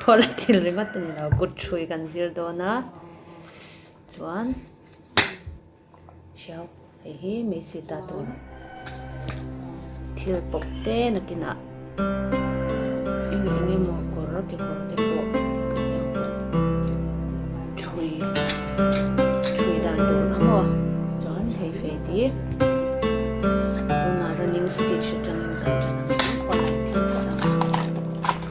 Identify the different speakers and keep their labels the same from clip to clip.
Speaker 1: Khuala thil ringawt te nilo kut hrui kan zir dawn a, chuan hriau hei hi mei si ta tur thil pawp te nakinah eng eng emaw kawr kekawr te pawh eng pawh hrui hrui dan tur a maw chuan hei fei ti tunah running stitch atangin kan chawlh a.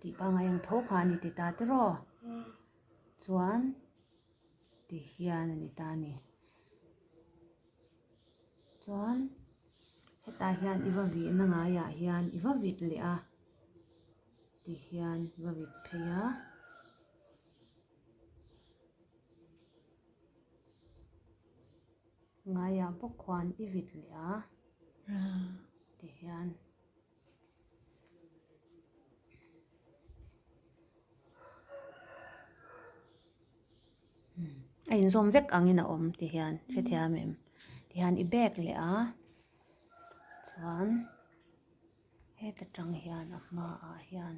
Speaker 1: Tih pangai ang tho kha a ni ti ta tiraw? Chuan tih hian a ni ta a ni. Chuan hetah hian i va vih na ngai ah hian i va vit leh a tih hian i va vit phei a. Ngaiah pawh khuan i vit leh a tihian. A inzawm vek angin a awm tihian hrethiam em tihian i bek leh a. Chuan heta tang hian a hmaah hian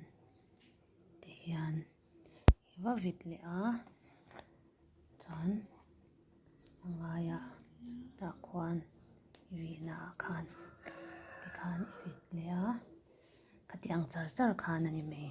Speaker 1: tihian. I va vit leh a, chuan a ngaia tah khuan i vihna ah khan tikhan i vit leh a, khati ang char char khan a ni mai.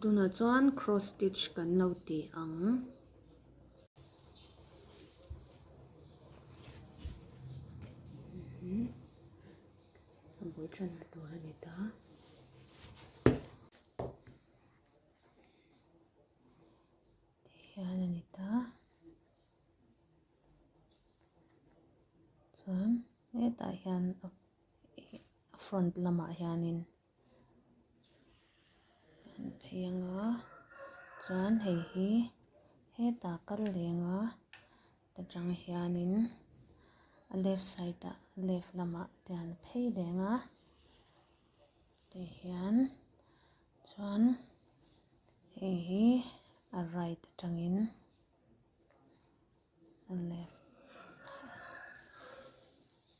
Speaker 1: Tunah chuan cross stitch kan lo ti ang. Chuan hetah hian front lamah hianin. kan phei ang a chuan hei hi hetah kal leng a ta tang hian in a left side ah left lamah te an phei leng a tei hian chuan hei hi a right a tang in a left .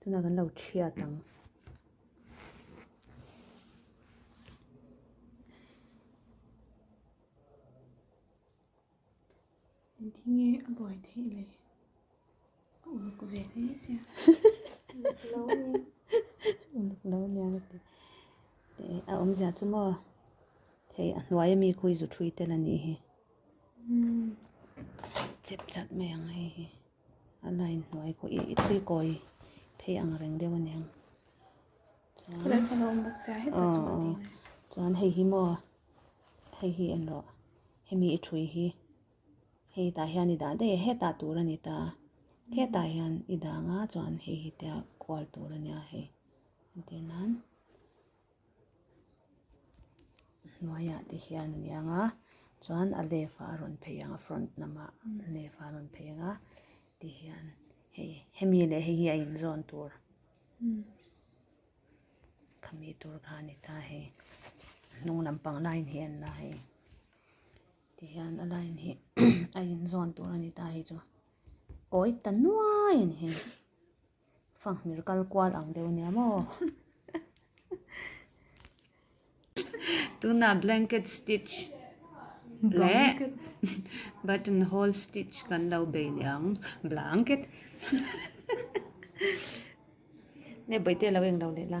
Speaker 1: tunah kan lo chhiat ang dinge a buai theih leh a uluk ve hle se a uluk lo nia uluk lo nia ka ti teh a awmzia chu maw hei a hnuaia mi khawi zu thui te la nih hi chep chat mai ang hei hi. A la inhnuai pawh i tuikawi phei ang reng deuh a ni ang. Khawlai pawh a lo awm bawk sia hetah chuan a ti ngai. Chuan hei hi maw? Hei hi en rawh. Hemi i thui hi hei tah hian i dah daih e. Hetah tur a ni ta. Hetah hian i dah nga chuan hei hi tia kual tur a nia hei. Entir nan. hnuaia te hian a ni ang a chuan a left a a rawn phei ang a front hnam ah left a a rawn phei ang a ti hian hei hemi leh heihi a inzawn tur khami tur kha a ni ta hei a hnung lampang line hi a ni ta hei ti hian a line hi a inzawn tur a ni ta hei chu kawi ta nuai a ni hei. Fanghmir kal kual ang deuh nia maw. Tuna blanket stitch leh button hole stitch kan lo bei leh ang. Blanket. Ne bawi te lo eng lo leh la.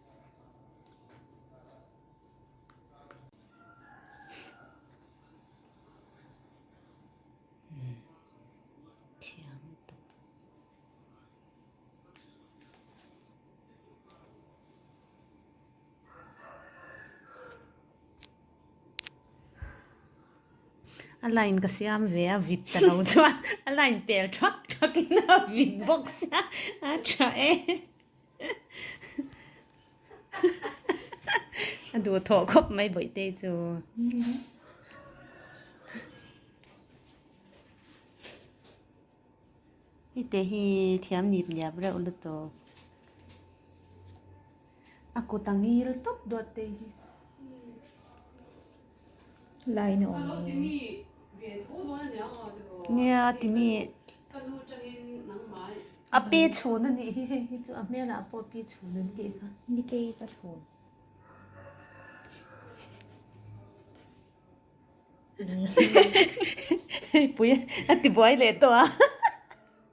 Speaker 1: a line ka siam ve a vit ta lo chuan a line tel thak thak in a vit bawk sia a tha e. A duh thawh khawp mai Bawihte chu. Hete hi thiam nip niap reuh lutuk. A kut a ngil tawp duatte hi. Laina awm em? Nia timi a pi chhun a nih hi hei hi chu a hmelah pawh pi chhun an tih kha. Nikei ka chhun. Hei pui a tibuai leh tawh a.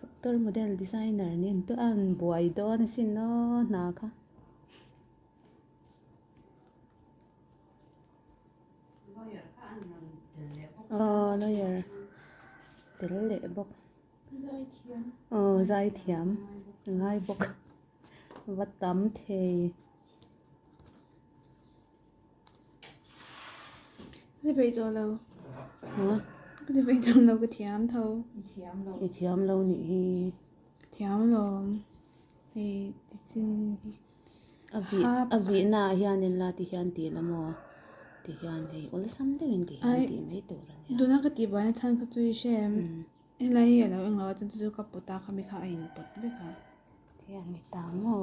Speaker 1: Doctor model designer nen tuan buai dawn asin naw hna kha. Aww lawyer tel leh bawk aww zai thiam a ngai bawk va tam thei. Ka ti peih tawh lo. Hah? Ka ti peih tawh lo, ka thiam tho. I thiam lo. I thiam lo nih hi. Ka thiam lawm. Hei tichin hi. A vih, a vih naah hianin la ti hian ti la maw? Ti hian hei awlsam deuhin ti hian tih mai tur a nia. Tuna ka tih vana chhan kha chu i hrem. Helai hi a lo eng lo a, chuan chu chu ka put a, khami kha a input vek a. Ka ti a, ni ta maw?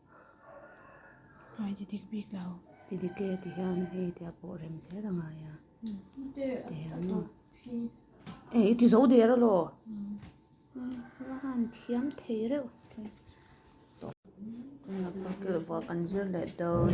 Speaker 1: Ngai ti dik bik lo. Ti dik e ti hian hei te ah pawh rem zel a ngai a. Hei i ti zo der alo. Hela han thiam thei reuh. Tunlai pawh kan zir leh dawn.